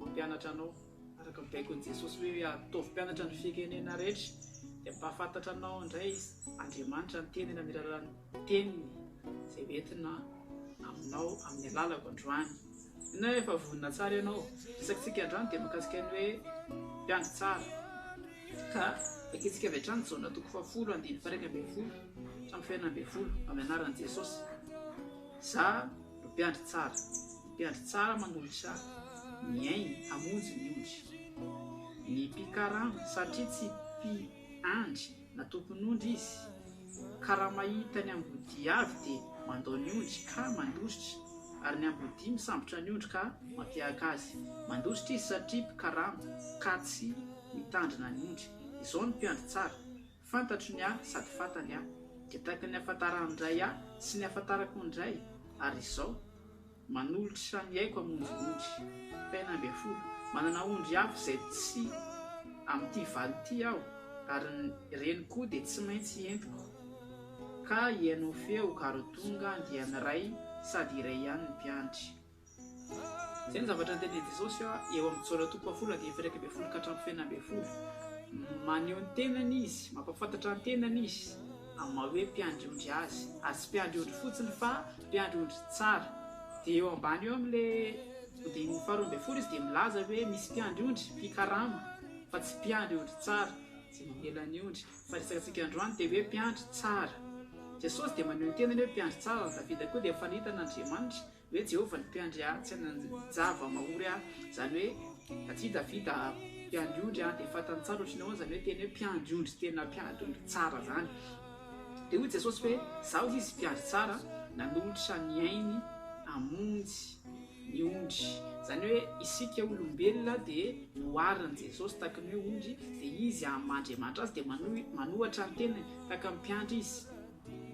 Mampianatra anao araka ny baikon'i Jesosy hoe ataovy mpianatra ny firenena rehetra dia hampahafantatra anao indray izy, Andriamanitra ny tenany amin'ny alalan'ny teniny izay ho entina aminao amin'ny alalako androany. Inona hoe efa vonona tsara ianao? Resakintsika androany dia mikasika ny hoe mpiandry tsara. Ka vakintsika avy hatrany Jaona toko fahafolo andininy fairaika ambin'ny folo hatramin'ny fahena ambin'ny folo amin'ny anaran'i Jesosy. Za Mpiandry tsara, mpiandry tsara manolotra ny ainy hamonjy ny ondry. Ny mpikarama, satria tsy mpiandry na tompon'ondry izy, ka raha mahita ny ambodia avy dia mandao ny ondry ka mandositra, ary ny ambodia misambotra ny ondry ka mampiahaka azy. Mandositra izy satria mpikarama ka tsy mitandrina ny ondry. Izao ny mpiandry tsara. Fantatro ny ahy sady fantany ahy, dia tahaka ny ahafantaran'ny Ray ahy sy ny ahafantarako ny Ray, ary izao, manolotra sy raha mihaiko hamonjy ondry. Fahenina ambin'ny folo, Manana ondry hafa izay tsy amin'ity valo ity aho, ary ny reniko koa dia tsy maintsy entiko. Ka hihaino ny feoko ary ho tonga andiany iray sady iray ihany ny mpiandry. Izay ny zavatra niteny Jesosy eo amin'ny Jaona toko fahafolony andininy faha-iraika ambin'ny folo ka hatramin'ny fahenina ambin'ny folo. Maneho ny tenany izy, mampahafantatra ny tenany izy amin'ny maha hoe mpiandry ondry azy, ary tsy mpiandry ondry fotsiny fa mpiandry ondry tsara. Dia eo ambany eo amin'ilay andininy faharoa ambin'ny folo izy dia milaza hoe misy mpiandry ondry mpikarama fa tsy mpiandry ondry tsara izay mamela ny ondry. Fa ny resakantsika androany dia hoe mpiandry tsara. Jesosy dia maneho ny tenany hoe mpiandry tsara ary Davida koa dia mifanehita an'Andriamanitra. Hoe Jehovah no mpiandry ahy, tsy hanan-java-mahory aho. Izany hoe, aty Davida, mpiandry ondry, dia fantany tsara ohatry ny ahoana izany hoe teny hoe mpiandry ondry, tena mpiandry ondry tsara izany. Dia hoy Jesosy hoe, Izaho hoy izy, mpiandry tsara, nanolotra ny ainy hamonjy ny ondry. Izany hoe isika olombelona dia noharin'i Jesosy tahaka ny hoe ondry, dia izy hahaman'Andriamanitra azy, dia manohitra ny tenany tahaka ny mpiandry izy.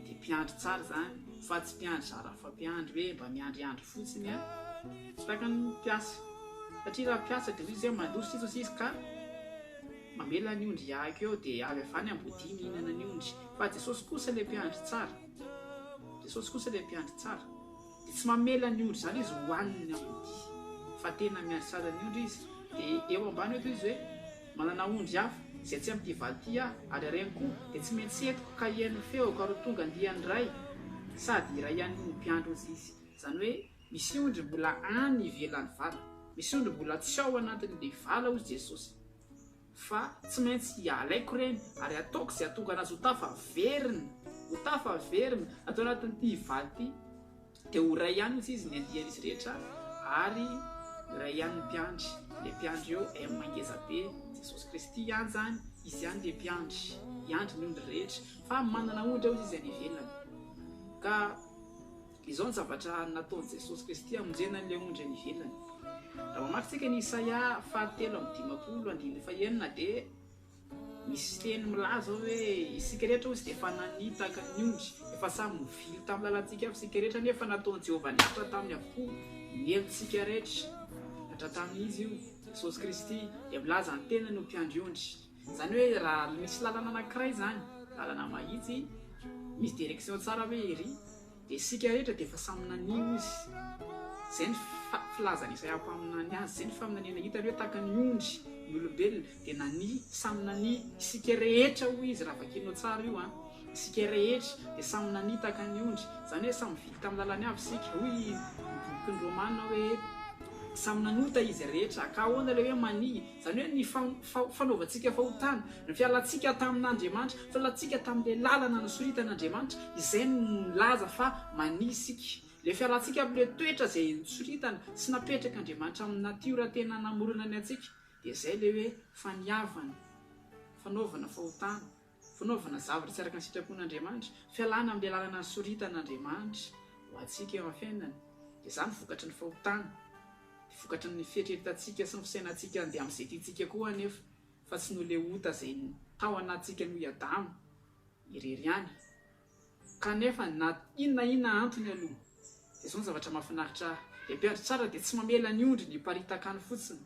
dia mpiandry tsara izany fa tsy mpiandry zarafampiandry hoe mba miandriandry fotsiny an! Tsy tahaka ny mpiasa satria raha mpiasa dia hoy izy hoe mandroso tsy hitosi izy ka mamela ny ondry hiahaka eo dia avy avy any ambodia mihinana ny ondry fa Jesosy kosa ilay mpiandry tsara Jesosy kosa ilay mpiandry tsara Dia tsy mamela ny ondry izany izy hohaniny ny ambodia. Fa tena miandry tsara ny ondry izy. Dia eo ambany eto izy hoe, Manana ondry hafa, izay tsy amin'ity valy ity aho, ary hareno koa, dia tsy maintsy entiko ka hihaino ny feoko ary ho tonga andiany iray, sady hiray ihany noho ny mpiandry ozy izy. Izany hoe, misy ondry mbola any ivelan'ny vala. Misy ondry mbola tsy ao anatin'ilay vala hozy Jesosy. Fa tsy maintsy alaiko ireny ary ataoko izay hahatonga anazy ho tafaverina, ho tafaverina, na tao anatin'ity hivady ity, dia ho iray ihany hoy izy ny andian'izy rehetra ary iray ihany ny mpiandry, ilay mpiandry eo M ngeza be, Jesosy Kristy ihany izany, Izy ihany ilay mpiandry, hiandry ny ondry rehetra, fa manana ondry aho hoy izy any ivelany, ka Izao ny zavatra nataon'i Jesosy Kristy hamonjena an'ilay ondry any ivelany. Raha mamaky isika ny Isaia fahatelo amby dimampolo andininy fahenina dia misy teny milaza ao hoe isika rehetra hozy dia efa nanitaka ny ondry. Efa samy mivily tamin'ny lalantsika avy isika rehetra nefa nataon'i Jehovah niaritra taminy avokoa ny helotsika rehetra. Niaritra tamin'Izy io. Jesosy Kristy dia milaza ny tenany ho mpiandry ondry. Izany hoe raha misy lalana anankiray izany, lalana mahitsy, misy direction tsara ve ery, dia isika rehetra dia efa samy nanio izy. Izay ny filazan'ny Isaia mpaminany azy, izay ny faminaniana hitany hoe tahaka ny ondry ny olombelona, dia nania, samy nania, isika rehetra hoy izy raha vakianao tsara io an, isika rehetra dia samy nania tahaka ny ondry, izany hoe samy vily tamin'ny lalany avy isika, hoy ny bokin'ny Romana hoe samy nanota izy rehetra, ka ahoana ilay hoe mania? Izany hoe ny fanaovantsika fahotana, ny fialantsika tamin'Andriamanitra, ny fialantsika tamin'ilay lalana nosoritan'Andriamanitra, izay no milaza fa mania isika. Ilay fialantsika amin'ilay toetra izay nosoritana sy napetrak'Andriamanitra amin'ny natiora tena namorona ny antsika, dia izay ilay hoe faniavana, fanaovana fahotana. Fanaovana zavatra tsy araka ny sitrapon'Andriamanitra, fialana amin'ny lalana nisoritan'Andriamanitra ho antsika eo amin'ny fiainana, dia izany vokatry ny fahotana, dia vokatry ny fieritreretantsika sy ny fisainantsika handeha amin'izay tiantsika koa anefa, fa tsy noho ilay ota izay tao anatintsika noho i Adama irery ihany. Kanefa na inona inona antony aloha dia zao ny zavatra mafinaritra ahy, ny mpiandry tsara dia tsy mamela ny ondriny hiparitaka any fotsiny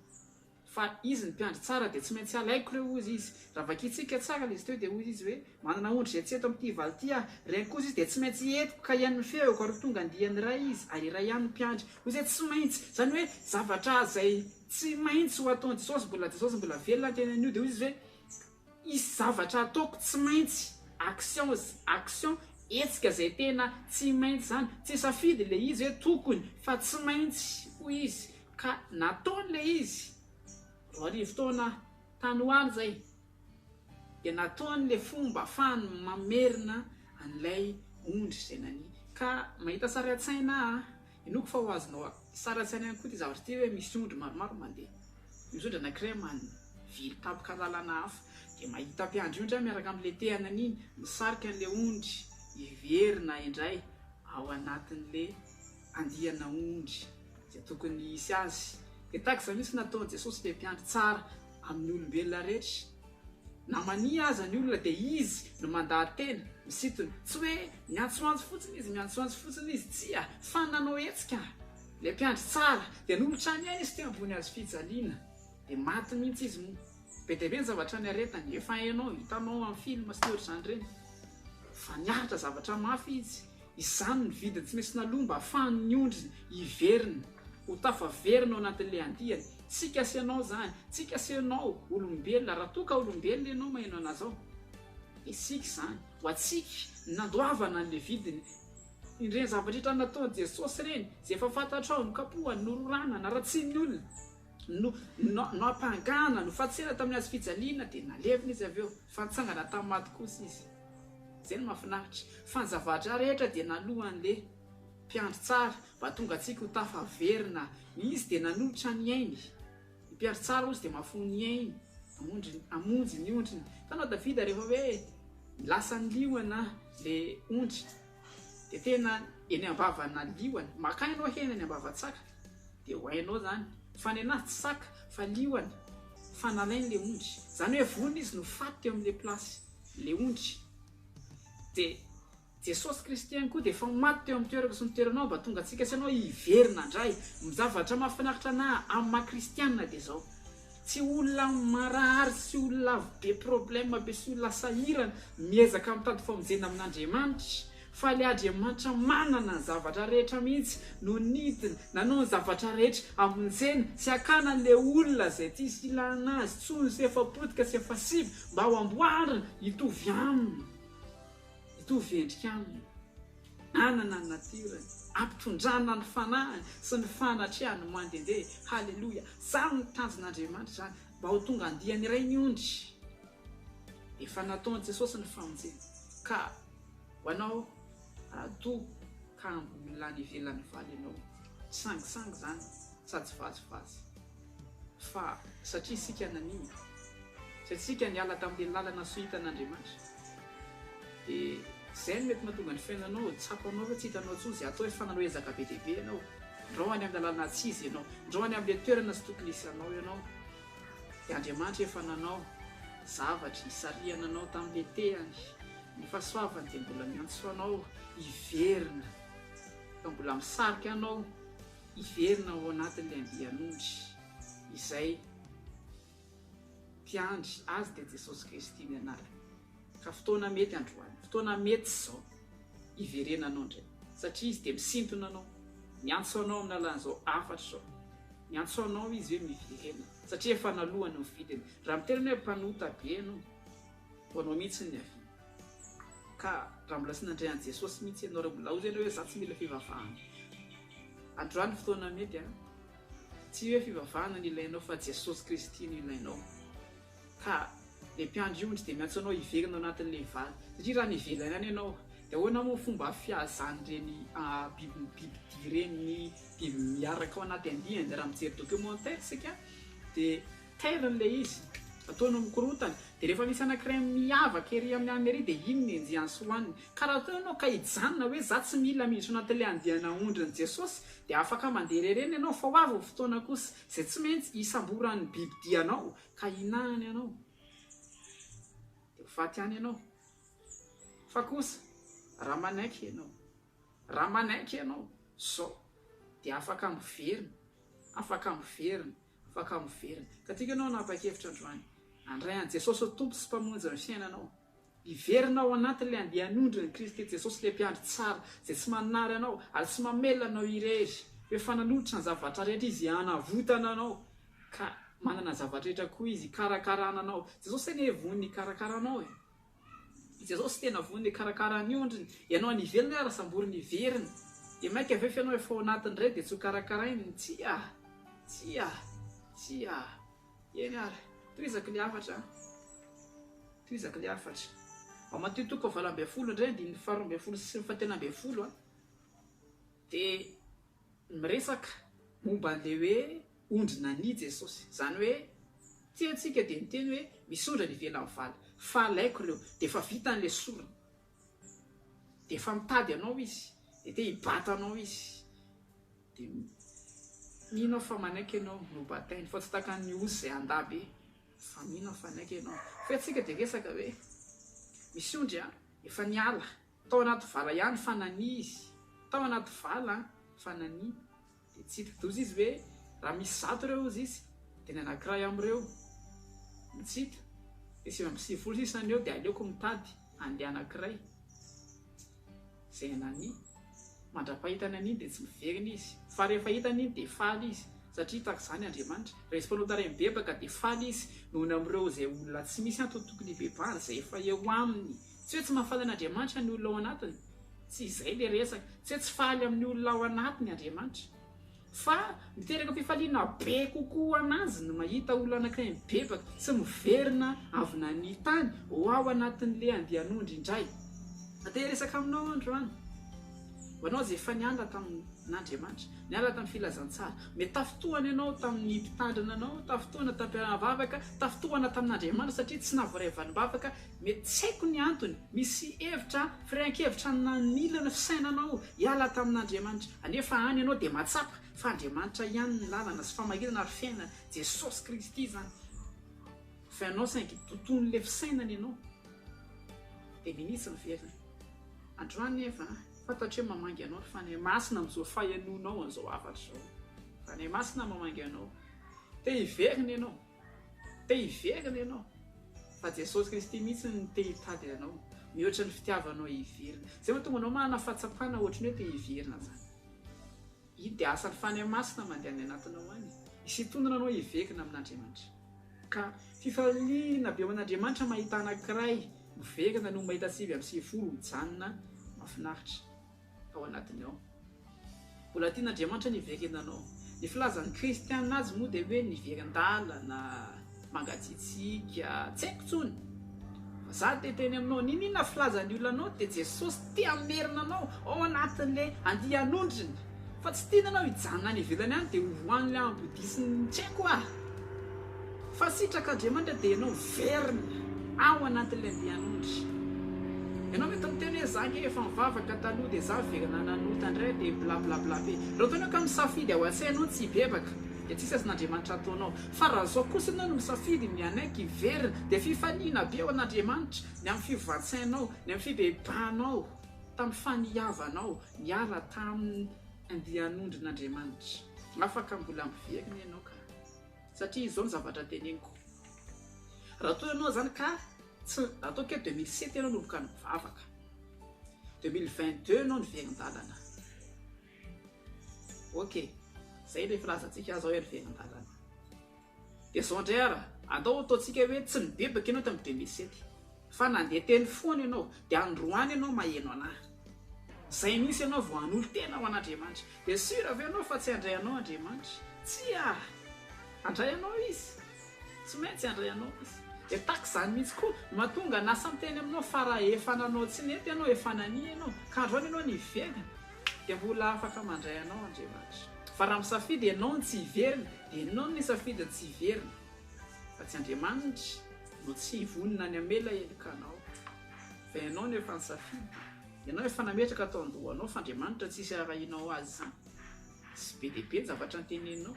fa izy ny mpiandry tsara dia tsy maintsy alaiko ireo hozy izy. Raha vakintsika tsara ilay izy teo dia hoy izy hoe, manana ondry izay tsy eto amin'ity valo ity aho, reny kosa izy dia tsy maintsy entiko ka hihaino ny feoko ary ho tonga andiany iray izy ary iray ihany ny mpiandry. Hoy izay tsy maintsy, izany hoe zavatra izay tsy maintsy ho ataon'i Jesosy, mbola Jesosy mbola velona ny tenany io dia hoy izy hoe, Hisy zavatra ataoko tsy maintsy, actions, action, hetsika izay tena tsy maintsy izany, tsy safidy ilay izy hoe tokony fa tsy maintsy hoy izy ka nataony ilay izy, roa arivo taona tany ho any izay, dia nataony ilay fomba afahany mamerina an'ilay ondry izay nania, ka mahita sary an-tsaina aho, Inoako fa ho azonao sary an-tsaina ihany koa ity zavatra ity hoe misy ondry maromaro mandeha. Misy ondry anankiray manivily tampoka lalana hafa, dia mahita mpiandry ondry aho miaraka amin'ny letehana an'iny misarika an'ilay ondry hiverina indray ao anatin'ilay andiana ondry izay tokony hisy azy. Dia tahaka izany mihitsy no nataon'i Jesosy ilay mpiandry tsara amin'ny olombelona rehetra. Na mania aza ny olona dia izy no mandaha-tena, misintona. Tsy hoe miantsoantso fotsiny izy, miantsoantso fotsiny izy, tsia, fa nanao hetsika. Ilay mpiandry tsara dia nolotra ny ainy izy teo ambony hazo fijaliana, dia maty mihitsy izy moa. Be dia be ny zavatra niaretany, efa hainao, hitanao amin'ny film sy ny ohatr'izany ireny. Fa niaritra zavatra mafy izy. Izany ny vidiny tsy maintsy naloa mba afahan'ny ondriny hiverina ho tafaverina ao anatin'ilay andiany. Tsy kasenao izany, tsy kasenao olombelona, raha toa ka olombelona ianao maheno an'azy ao, dia siky izany ho antsika nandoavana an'ilay vidiny. Ireny zavatra rehetra nataon'i Jesosy ireny, izay efa fantatrao, nokapohany, nororana, naratsian'ny olona, no, no, noampangana, nofantsihana tamin'ny hazo fijaliana, dia nalevina Izy avy eo, fa nitsangana tamin'ny maty kosa Izy. Zay no mafinaritra. Fa ny zavadra rehetra dia nalohan le. Mpiandry tsara mba tonga antsika ho tafa averina. Ny izy dia nanolotra ny ainy. Ny mpiandry tsara ozy dia mafoha ny ainy hamonjy ny ondriny. Hitanao Davida rehefa hoe lasa ny liona le ondry dia tena eny ambavana liona. Maka enao hena eny ambava tsaka dia ho hainao zany fa ny anazy tsy saka fa liona fa nalainy le ondry. Zany hoe vonona izy no faty teo amle place. le ondry. De Jesosy Kristy ihany koa dia efa maty teo amin'ny toerako sy ny toeranao mba tonga antsika sy anao hiverina indray. Zavatra mahafinaritra ana amin'ny maha kristianina dia zao. Tsy olona marary sy olona be problème be sy olona sahirana miezaka mitady famonjena amin'Andriamanitra. Faly Adriamanitra manana ny zavatra rehetra mihitsy no nidina nanao ny zavatra rehetra hamonjena sy hakana an'ilay olona izay tsisy ilana azy tsony sy efa potika sy efa simba mba ho amboarina hitovy aminy hitovy endrika aminy hanana ny natirany hampitondrana ny fanahiny sy ny fanatrehany mandehandeha haleloia izany ny tanjon'Andriamanitra izany mba ho tonga andiany iray ny ondry efa nataon'i Jesosy ny famonjena ka Ho anao Rado ka olona any ivelany valy ianao, tsy sangisangy izany sady tsy vazivazy fa satria isika nanimba, satria isika niala tamin'ilay lalana sohitan'Andriamanitra dia izay no mety mahatonga ny fiainanao ho tsapanao fa tsy hitanao intsony izay hatao fa nanao ezaka be dia be ianao, ndrao any amin'ny lalana tsy izy ianao, ndrao any amin'ilay toerana tsy tokony hisy anao ianao. Dia Andriamanitra efa nanao zavatra hisarihana anao tamin'ny letehany. Ny fahasoavany dia mbola miantso anao hiverina, fa mbola misarika anao hiverina ao anatin'ilay andian'ondry izay mpiandry azy dia Jesosy Kristy ny anarany. Ka fotoana mety androany, fotoana mety izao hiverenanao indray, satria Izy dia misintona anao, miantso anao amin'ny alalan'izao hafatra izao, miantso anao Izy hoe miverena, satria efa naloany ny vidiny. Raha miteny ianao hoe mpanota be ianao, ho anao mihitsy ny avis. Ka raha mbola tsy nandre an'i Jesosy mihitsy ianao, raha mbola hozy ianao hoe za tsy mila fivavahana, androany ny fotoana mety an! Tsy hoe fivavahana no ilainao fa Jesosy Kristy no ilainao. ka le mpiandry ondry dia miantso anao hiverina ao anatin'ilay vala satria raha nevelaina any ianao dia ahoana moa fomba fiazan'ireny biby bibidia ireny ny biby miaraka ao anaty andiany dia raha mijery documentaire isika dia tairiny ilay izy ataony mikorontana dia rehefa misy anankiray miavaka ery amin'ny alina ery dia iny no enjehany sy hohaniny ka raha toa ianao ka hijanona hoe za tsy mila miditra ao anatin'ilay andianà ondrin'i Jesosy dia afaka mandeha irery eny ianao fa ho avy ny fotoana kosa Izay tsy maintsy hisamboran'ny bibidia anao ka hinahany anao, dia ho faty any ianao. Fa kosa raha manaiky ianao, raha manaiky ianao izao, dia afaka miverina, afaka miverina, afaka miverina. Ka tiako ianao hanapa-kevitra androany, handray an'i Jesosy ho Tompo sy Mpamonjy ny fiainanao. Hiverina ao anatin'ilay andian'ondrin'i Kristy Jesosy, ilay Mpiandry tsara, izay tsy manary anao ary tsy mamelona anao irery. Efa nanolotra ny zavatra rehetra Izy hanavotana anao, ka manana ny zavatra rehetra koa Izy hikarakarana anao. Jesosy tena e vonona hikarakara anao e! Jesosy tena vonona hikarakara ny ondriny. Ianao any ivelany ary samboriny hiverina. Dia mainka ve fa ianao efa ao anatiny indray dia tsy hokarakarainy? Tsia! Tsia! Tsia! Eny ary, tohizako ny hafatra an! Tohizako ny hafatra. Ao Matio toko fahavalo ambin'ny folo indray, andininy faharoa ambin'ny folo sy ny fahatelo ambin'ny folo, dia miresaka momba an'ilay hoe ondry nania Jesosy. Izany hoe, ity antsika dia niteny hoe misy ondry any ivelan'ny vala, fa alaiko ireo, dia efa vita ny lesoriny. Dia efa mitady anao izy, dia te hibata anao izy. Dia mino aho fa manaiky ianao nobatainy, fa tsy tahaka an'i Osy izay handà be, fa mino aho fa hanaiky ianao. Fa isika dia resaka hoe, misy ondry efa niala tao anaty vala ihany fa nania izy, tao anaty vala fa nania. Dia tsy hidi-doza izy ve raha misy zato ireo hozy izy, dia ny anankiray amin'ireo mitsito, dia sivy amby sivifolo sisa ny eo, dia aleoko mitady an'ilay anankiray. Izay an'Annie. Mandra-pahitany an'iny dia tsy miverina izy, fa rehefa hitany iny dia faly izy, satria tahaka izany Andriamanitra. Rehefa notarainy mibebaka dia faly izy noho ny amin'ireo izay olona tsy misy antony tokony hibebahany, izay efa eo aminy. Tsy hoe tsy mahafaly an'Andriamanitra ny olona ao anatiny, tsy izay ilay resaka, tsy hoe tsy faly amin'ny olona ao anatiny Andriamanitra, fa miteraka fifaliana be kokoa ho an'Azy ny mahita olona anankiray mibebaka sy miverina avy nania tany ho ao anatin'ilay andian'ondry indray. Te hiresaka aminao aho androany, ho anao izay efa niala tamin'Andriamanitra, niala tamin'ny filazantsara, mety tafintohana ianao tamin'ny mpitandrina anao, tafintohana tamin'ny mpiara-bavaka, tafintohana tamin'Andriamanitra satria tsy nahavoaray valim-bavaka Mety tsy haiko ny antony, misy hevitra, firehan-kevitra nanila ny fisainanao hiala tamin'Andriamanitra. Anefa any ianao dia mahatsapa fa Andriamanitra ihany ny lalana sy famarinana ary fiainana, Jesosy Kristy izany. Fa ianao saingy doton'ilay fisainana ianao, dia minitsy miverina. Androany nefa, fantatro hoe mamangy anao ry Fanahy Masina amin'izao fahenoanao an'izao hafatra izao. Fanahy Masina mamangy anao, te hiverina ianao. Te hiverina ianao, fa Jesosy Kristy mihitsy no te hitady anao, mihoatra ny fitiavanao hiverina. Izay mahatonga anao manana fahatsapana ohatry ny hoe te hiverina izany. Iny dia asan'ny Fanahy Masina mandeha any anatinao any, hisintonana anao hiverina amin'Andriamanitra. Ka fifaliana be aman'Andriamanitra mahita anankiray miverina no mahita sivy amby sivifolo mijanona mahafinaritra. ao anatiny ao. Mbola tian' Andriamanitra ny hiverena anao. Ny filazan' ny kristiana azy moa dia hoe nivery an-dalana, mangatsiatsiaka, tsy haiko intsony. Fa za te hiteny aminao, niniana filazan' ny olona anao dia Jesosy te hamerina anao ao anatin' ilay andian' ondriny. Fa tsy tiany ianao hijanona any ivelany any dia ho any ambodisin' ny tsy haiko ah. Fa sitraka Andriamanitra dia ianao miverina ao anatin'ilay andian'ondry. Ianao mety miteny hoe za nge efa nivavaka taloha dia za ve nanota ndray dia bla bla bla be. Raha ohatra ianao ka misafidy ao an-tsainao ny tsy hibebaka dia tsisy asan'Andriamanitra ataonao. Fa raha zao kosa ianao no misafidy ny hanaiky hiverina dia fifaliana be ao an'Andriamanitra ny amin'ny fivoan-tsainao, ny amin'ny fibebahanao tamin'ny faniavanao niala tamin'ny andian'ondrin'Andriamanitra. Afaka mbola miverina ianao ka. Satria izao ny zavatra teneniko. Raha toa ianao izany ka tsy, ataoko hoe deux mille sept ianao nanomboka nivavaka, deux mille vingt deux ianao niverin-dalana. Ok, izay ilay filazantsika azy hoe niverin-dalana. Dia izao indray ara, andao ataontsika hoe tsy nibebaka ianao tamin'ny deux mille sept. Fa nandeha teny foana ianao, dia androany ianao maheno an'ahy. Izay misy ianao vao hanolo-tena ho an'Andriamanitra. Dia sûr ve ianao fa tsy handray anao Andriamanitra? Tsia! Handray anao Izy. Tsy maintsy handray anao Izy. Dia tahaka izany mihitsy koa no mahatonga ny asa miteny aminao fa raha efa nanao tsy nety ianao, efa nania ianao, ka androany ianao niverina, dia mbola afaka mandray anao Andriamanitra. Fa raha misafidy ianao ny tsy hiverina, dia ianao no nisafidy ny tsy hiverina, fa tsy Andriamanitra. no tsy vonona ny hamela heloka anao fa ianao no efa nisafidy, ianao efa nametraka tao an-dohanao fa Andriamanitra tsy hisy harahinao azy izany, tsy be dia be ny zavatra anteneninao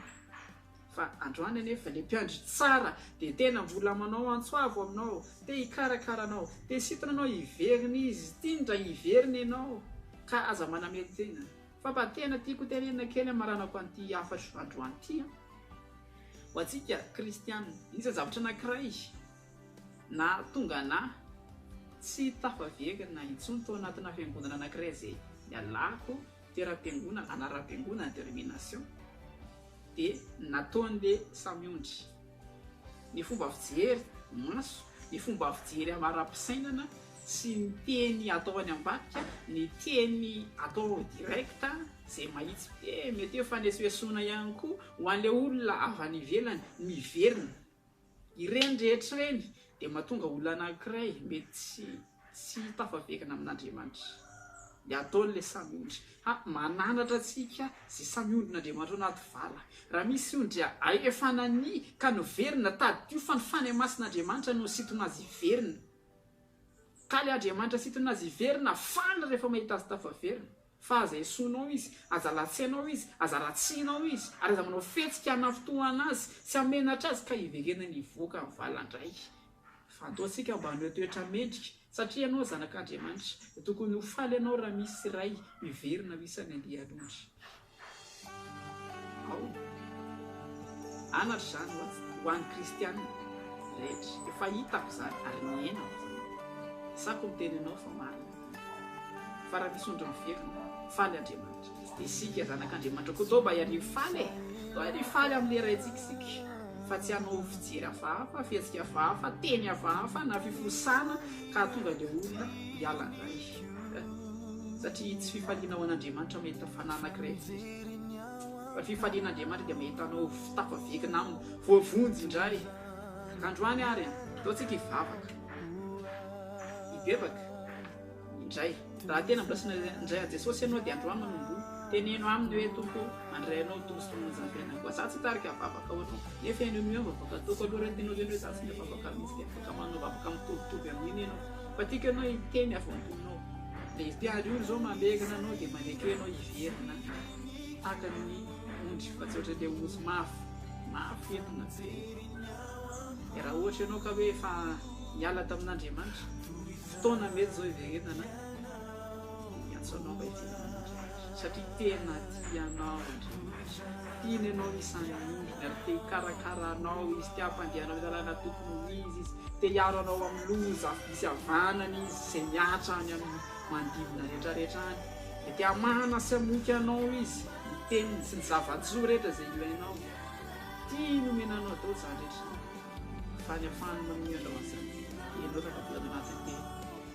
fa androany anefa ilay mpiandry tsara dia tena mbola manao antso avo aminao, te hikarakara anao, te sintina anao hiverina izy, tiany raha hiverina ianao ka aza manamelo tena fa mba tena tiako hotenenina kely hamaranako an'ity hafatro androany ity an! Ho antsika kristiana, iza zavatra anankiray nahatonga anà tsy tafaverina intsony tao anatinà fiangonana anankiray izay nialako, teram-piangonana, anaram-piangonana, denomination, dia nataon'ilay samy ondry? Ny fomba fijery, maso, ny fomba fijery amara-pisainana, Tsy ny teny atao any ambadika, ny teny atao direct, izay mahitsy be, mety hoe fanesoesoana ihany koa ho an'ilay olona avy any ivelany miverina. Ireny rehetra ireny dia mahatonga olona anankiray mety tsy tafaverina amin'Andriamanitra. Ny ataon'ilay samy ondry, ha, mananatra antsika izay samy ondrin'Andriamanitra ao anaty vala. Raha misy ondry ahefa nania ka niverina, tadidio fa ny Fanahy Masin'Andriamanitra no nisintona azy hiverina. Ka le Andriamanitra sintonina azy hiverina faly rehefa mahita azy tafaverina. Fa aza esoinao izy, aza latsianao izy, aza ratsianao izy, ary aza manao fihetsika hanafintohana azy sy hamenatra azy ka hiverenany hivoaka ny valiny indray. Fantaontsika mba hanao toetra mendrika satria ianao zanak'Andriamanitra dia tokony ho faly ianao raha misy iray miverina ho isan'ny andian'ondry. Aoka anatra izany ho an'ny kristiana rehetra. Efa hitako izany ary nihenako izany. Asako miteny anao fa marina ity. Fa raha misy ondry miverina, faly Andriamanitra. Tsy dia isika zanak'Andriamanitra koa toa mba hiarivo faly e! Toa hiarivo faly amin'ny leraintsika isika, fa tsy hanao fijery hafahafa, fihetsika hafahafa, teny hafahafa na fifohosana ka hahatonga ilay olona hiala indray. Satria tsy fifaliana ho an'Andriamanitra mahita fanahy anankiray firy, fa fifaliana Andriamanitra dia mahita anao tafavingina aminy, voavonjy indray. Androany ary an, ataontsika hivavaka, hibebaka indray. Raha tena mbola tsy nandray an'i Jesosy ianao dia androany manomboha, teneno Aminy hoe, Tompo o, mandray Anao ho Tompo sy Mpamonjy ny fiainako. Izaho tsy hitarika hivavaka ho Anao, nefa Ianao mihoa ny vavaka ataoko aloha, raha tianao ve ny hoe izaho tsy mivavaka mihitsy dia afaka manao vavaka mitovitovy amin'iny ianao. Fa tiako ianao hiteny avy ao am-ponao Dia ity ary ora izao mamegona anao Dia manekeo ianao hiverina Tahaka ny ondry fa tsy ohatran'ilay ory mafy Mafy entina jerena Dia raha ohatra ianao ka hoe efa niala tamin'Andriamanitra Fotoana mety izao hiverenana Miantso anao mba hidirana amin'Andriamanitra satria tena tia anao Andriamanitra, tiany anao hisandoka ary te hikarakara anao Izy, te hampandeha anao amin'ny lalana tokony ho izy Izy, te hiaro anao amin'ny loza avy misy havanana Izy izay mihatra any amin'ny manodidina rehetrarehetra any, dia te hamahana sy hamoky anao Izy, ny teniny sy ny zava-tsoa rehetra izay ilainao, tiany homena anao daholo izany rehetra izany, fa ny hahafahany manome anao an'izany dia ianao tafiditra ao anatin'ny teniny.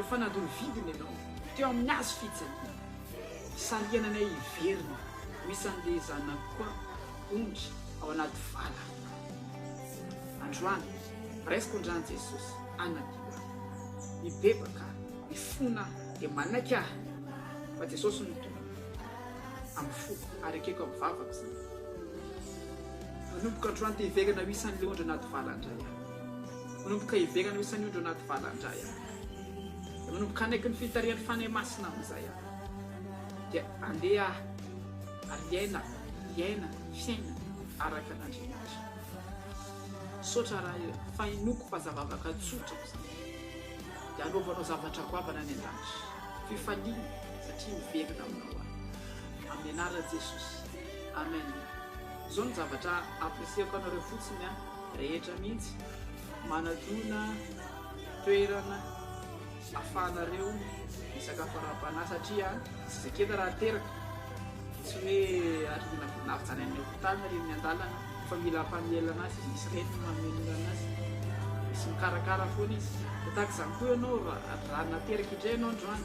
Efa nandoro vidiny ianao teo amin'ny hazo fijaliana, sarihana anay hiverina ho isan'ilay zanak'i Koa ondry ao anaty vala. Androany, raisiko ny ran'i Jesosy anatiko aho. Mibebaka, mifona aho dia manaiky aho fa Jesosy no Tompoko amin'ny foko ary ekeko amin'ny vavako izany. Manomboka androany te hiverina ho isan'ilay ondry anaty vala indray aho. Manomboka hiverina ho isan'ny ondry ao anaty vala indray aho. Dia manomboka hanaiky ny fitarihan'ny Fanahy Masina amin'izay aho. Dia handeha aho ary hiaina, hiaina, fiaina araka an'Andriamanitra. Misaotra Ray e, fa hinoako fa zava-vavaka tsotra izany. Dia hanaovanao zavatra goavana any an-danitra. Fifaliana satria miverina aminao aho. Amin'ny anaran'i Jesosy. Amen. Izao no zavatra apprécier-ko anareo fotsiny an. rehetra mihitsy manadona toerana afahanareo misakafo ara-panahy satria tsy zekena raha teraka tsy hoe arina vinavjany any hopitaly na reny an-dalana fa mila mpamelana azy izy misy reny mamelona azy misy mikarakara foana izy dia tahaka izany koa ianao raha nateraka indray ianao androany